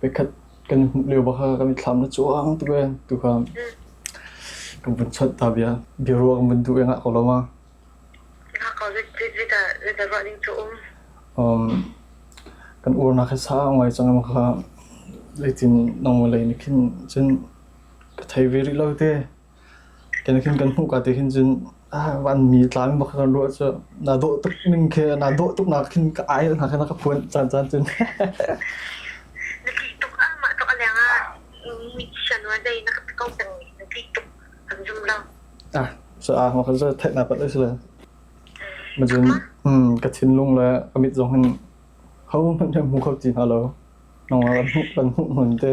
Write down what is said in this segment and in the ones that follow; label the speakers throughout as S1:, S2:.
S1: Veikhat kan i hmuh lio bak kha kan i thlam na cuang tuk e tu kha kan vun chawnh ta bia. Biaruah kan vun duh i ngah ko lo ma. Ngah ko
S2: zita zita ruah ding cu um. Um,
S1: kan uar na kha sang ngai chang ma kha leitin nong lei ni khin cun ka thei ve rih lo te. Kenikhin kan hmuh ka ti hin cun vanmi tlang bak kan ruah cu naa dawh tuk ning khi naa dawh tuk nak khin ka ai hna kha na ka phuan caan caan cun.
S2: Na tih tuk ah mah tuk a leng ah mi shanwa dei na ka ko peng na tih tuk
S1: kan zum lo. Ah so ah ma kan zo thek na pat le sila. Ma cun hmm ka thinlung le ka mit zong hin hau hman hemu khok ti hna lo. Nong kan hmuh kan hmuh hmun te.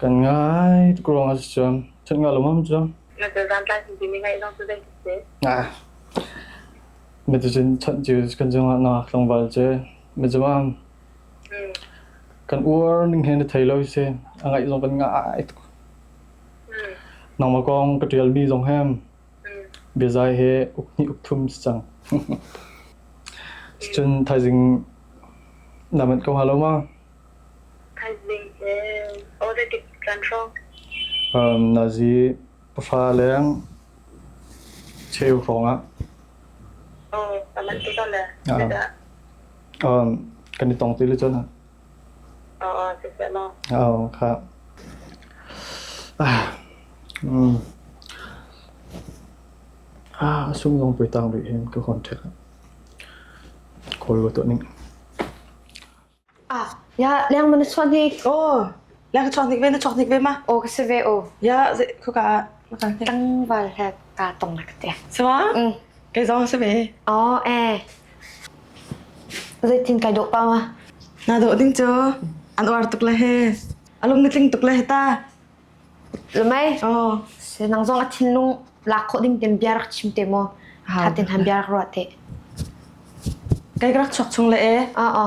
S2: Kan
S1: ngai tuk ruang ah cun ṭhat nga lawmam cu. Mi tu cun ṭhat cu kan cung ah na tlangval cu mi cung ah kan uar ning hen thei lo si a ngaih zong kan ngah tuk. Nang ma kong ka ṭial mi zong hem Biazai hi uk hnih uk thum si cang. Ticun thaizing na manh ko hnga lo ma?
S2: Thaizing he ode tik kan hrawng. Um,
S1: nazi pafa leng cheu hrawng ah.
S2: Oh, aman tu le. Um,
S1: kan i tong ti le cun. A sungdong pui tang rih hin ka hon ṭhet.
S3: Khawi wa tuah ning. Ya, leng man chuan hi. Oh, leng chuan
S4: hnik ve na chuan hnik ve ma. Oh, ka se ve o.
S3: Ya, khuka
S4: maka tang bal
S3: het. kaa tong nak te chuan
S4: kei zong si ve oh eh
S3: zeitin kai dawh pa ma na dawh ding
S4: cu an uar tuk le he alung na tling tuk le ta
S3: mai oh se nang zong a thinlung lak kho ding tem bia rak chim te mo ha tin han bia rak ro te
S4: kai rak chok chung le e a a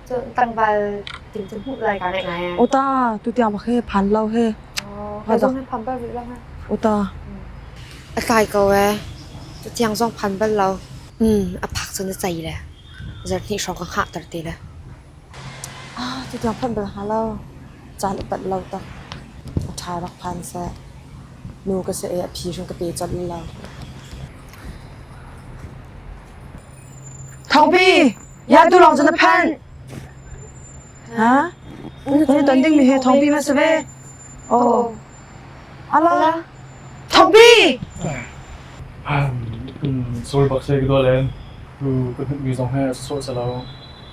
S3: Cun tlangval ting cu hmuh lai kaa ngaih ngai ai. Uta tutiang pak he
S4: phan lo he
S3: Oh, Ka zong hi pham bal rih lo ha. uta
S4: A
S3: tlai ko ee. Tutiang zong phan bal lo. Hmm, a phak cun a cai le. Zarh hnih hrawng ka hngah ter ti le. ah tutiang phanh bal ha lo caan upat lo tak
S4: a ṭha rak phan seh nu ka se a phi hring ka pe colh lo Thawngpi Ya tu lawng cu na phanh. Ha? Nan i ton dingmi hi thawngpi ma si ve? Aw.
S1: Ala. Thawngpi! Sorry bak se ka dual len. Tu ka hnutmi zong he sawh se lo.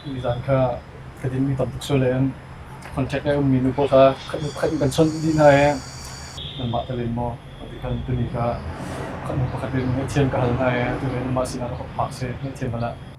S1: Ni zan kha ka dinmi tam tuk soi len. Contact ai ummi nu pawl kha khat pakhat in kan chawnh dih hna e. Nanmah ka len maw? Ti khan tuni kha kan pakhat len ngaih thiam ka hal hna e. Tu le nanmah sinah ka pak se ngaih thiam hmanh ah.